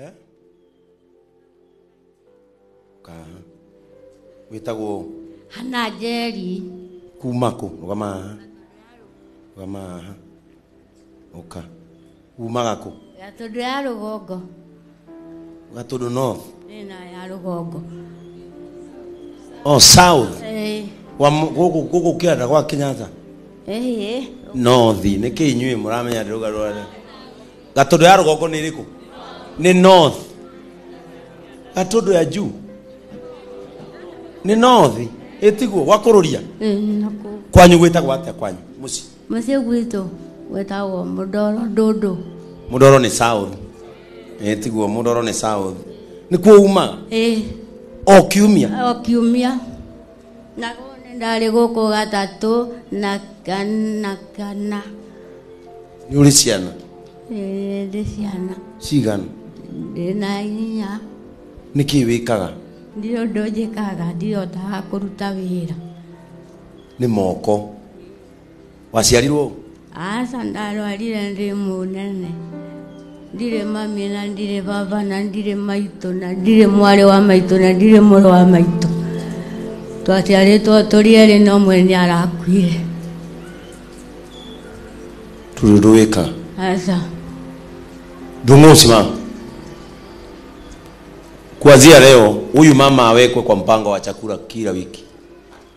Eh? Kaha. Wĩtagwo hana njeri kuma kũ? Rũgama haha. Rũgama haha. Ũka. Umaga kũ? gatũndũ ya rũgongo Gatũndũ North. ĩna ya rũgongo Oh, South. Eh, Wa m- gũkũ gũkũ kĩanda gwa Kenyatta. eh, North. Nĩkĩ inyuĩ mũramenya ndĩrũgarũra. gatodo ya rũgongo nĩ ĩrĩkũ nĩ north gatodo ya juu nĩ north ĩtiguo gwakũrũria ĩĩ nakũ kwanyu gwĩtagwo atĩa kwanyu mũciĩ mũciĩ gwitũ gwĩtagwo mũndoro ndũndũ mũdoro nĩ south ĩtiguo mũdoro nĩ south nĩkuo umaga ĩĩ o kiumia o kiumia nagwo nĩ ndarĩ gũkũ gatatũ na kana kana nĩ ũrĩ ciana Ĩĩ, ndĩ ciana cigana ndĩna inya nĩ kĩĩ wĩkaga ndirĩ ũndũ njĩkaga ndihotaga kũruta wĩra nĩ moko waciarirwo ũ? aca ndarwarire ndĩ mũnene ndirĩ mami na ndirĩ baba na ndirĩ maitũ na ndirĩ mwarĩ wa maitũ na ndirĩ mũrũ wa maitũ twaciarĩtwo tũrĩ erĩ na ũmwe nĩ arakuire tururuĩka aca ndung'usi mama kuanzia leo huyu mama awekwe kwa mpango wa chakula kila wiki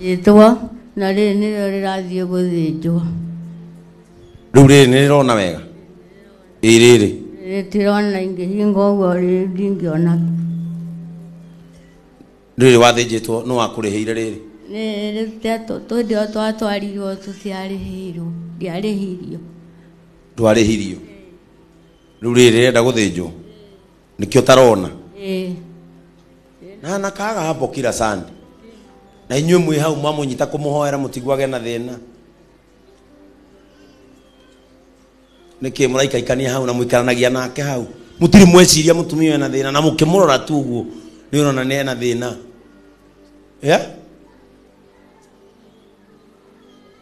rĩthĩnjĩtwo na rĩrĩ nĩrĩo rĩrathiĩ gũthĩnjwo rĩu rĩrĩ nĩ rĩrona wega ĩ rĩrĩ rĩtirona ingĩhinga ũguo rĩ- ndingĩona rĩrĩ wathĩnjĩtwo nĩ wakũrĩhĩire rĩrĩ twendio twatwarirwo tũtiarĩhĩirwo ndiarĩhirio ndwarĩhirio rĩu rĩrĩ rĩrenda gũthĩnjwo nikio tarona Eh. na nakaga hapo kila sande na inyuĩ mwĩ hau mamũnyita kũmũhoera mũtiguage na thĩna nĩkĩ mũraikaikania hau na mũikaranagia nake hau mũtirĩ mweciria mũtumia ũyũ ena thĩna na mũkĩmũrora tu ũguo nĩ ũrona nĩ ena thĩna yeah?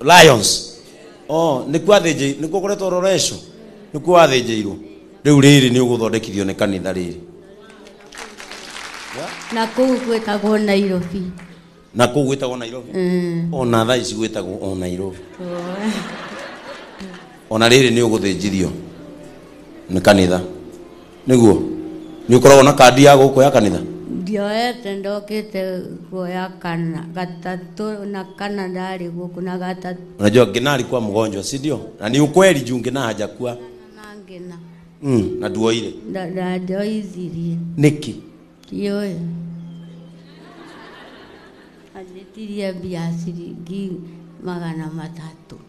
lions oh nikuo athĩnjĩ nikuo kũretwo ũroreco nikuo wathĩnjĩirwo rĩu rĩrĩ nĩ ũgũthondekithio nĩ kanitha rĩrĩ na kũu gwĩkagwo nairobi na kũu gwĩtagwo nairobi Mm. ona thaa ici gwĩtagwo o nairobi ona rĩrĩ nĩ ũgũthĩnjithio nĩ kanitha nĩguo nĩ ũkoragwo na kandi ya gũkũ ya kanitha ndioete ndokĩte kuoya kana gatatũ na kana ndarĩ gũkũ na gatatũ unajua ngina alikuwa mgonjwa si ndio na ni ukweli juu ngina hajakuwa na ngina mm, na duoire Nda- ndandoithirie niki kioyo anjĩtirie mbia ciringi magana matatũ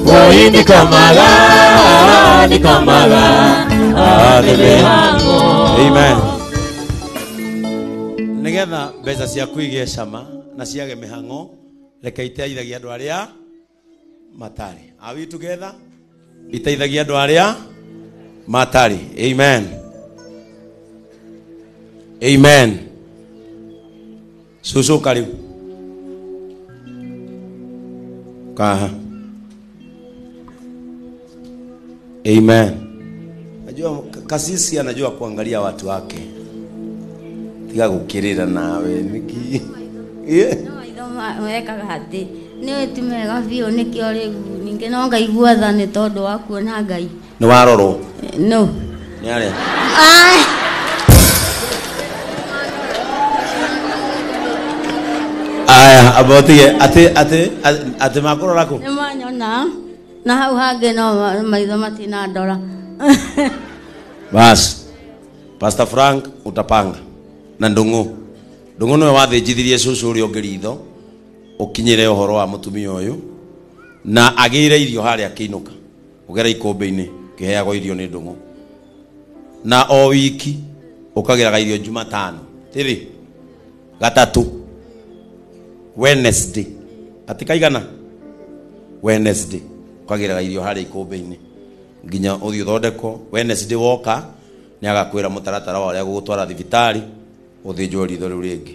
Boy ni kamala, ni kamala, atebe hango. Amen. Nigetha mbeca ciaku igĩe cama na ciage mĩhang'o reke iteithagia andũ arĩa matarĩ. Are we together? Iteithagia andũ arĩa matarĩ. Amen. Amen. cũcũ ũka rĩu kaha amen najua kasisi anajua kuangalia watu wake tiga gukirira nawe niki yeah. maitho ma- mekaga atĩ nĩ wĩti mega biũ nĩkĩo rĩu ningĩ no ngaigua tha nĩ tondũ wa kuona ngai nĩ warorwo no nĩ arĩa Ah, aya abotige atĩ atĩ atĩ makũrora kũ nĩ manyona na hau hangĩ no ma- maitho matinandora basi pastor frank utapanga na ndũng'ũ ndũng'ũ nĩwe wathĩnjithirie cũcũ ũrĩa ũngĩ ritho ũkinyĩre ũhoro wa mũtumia ũyũ na agĩire irio harĩa akĩinũka Ũgera ikũmbĩ-inĩ ũkĩheagwo irio nĩ ndũng'ũ, na o wiki ũkagĩraga irio Jumatano tĩrĩ gatatũ Wednesday ati kaigana Wednesday ũkagĩraga irio harĩa ikũmbĩ-inĩ nginya ũthiĩ ũthondekwo. Wednesday woka nĩ agakwĩra mũtaratara wa ũrĩa agũgũtwara thibitarĩ ũthĩnjwo ritho rĩu rĩngĩ.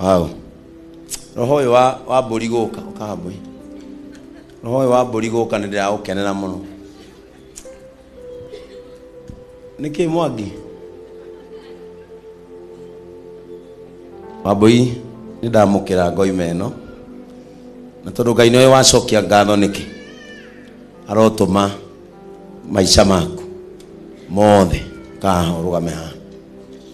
wow. roho ũyũ wa, wa mbũri gũka ũkahambũi roho ũyũ wa mbũri gũka nĩ ndĩraũkenera mũno nĩkĩ mwangi wambũi nĩ ndamũkĩra ngoima ĩno na tondũ ngai nĩwe wacokia ngatho nĩkĩ arotũma maica maku mothe kaha ũrũgame haha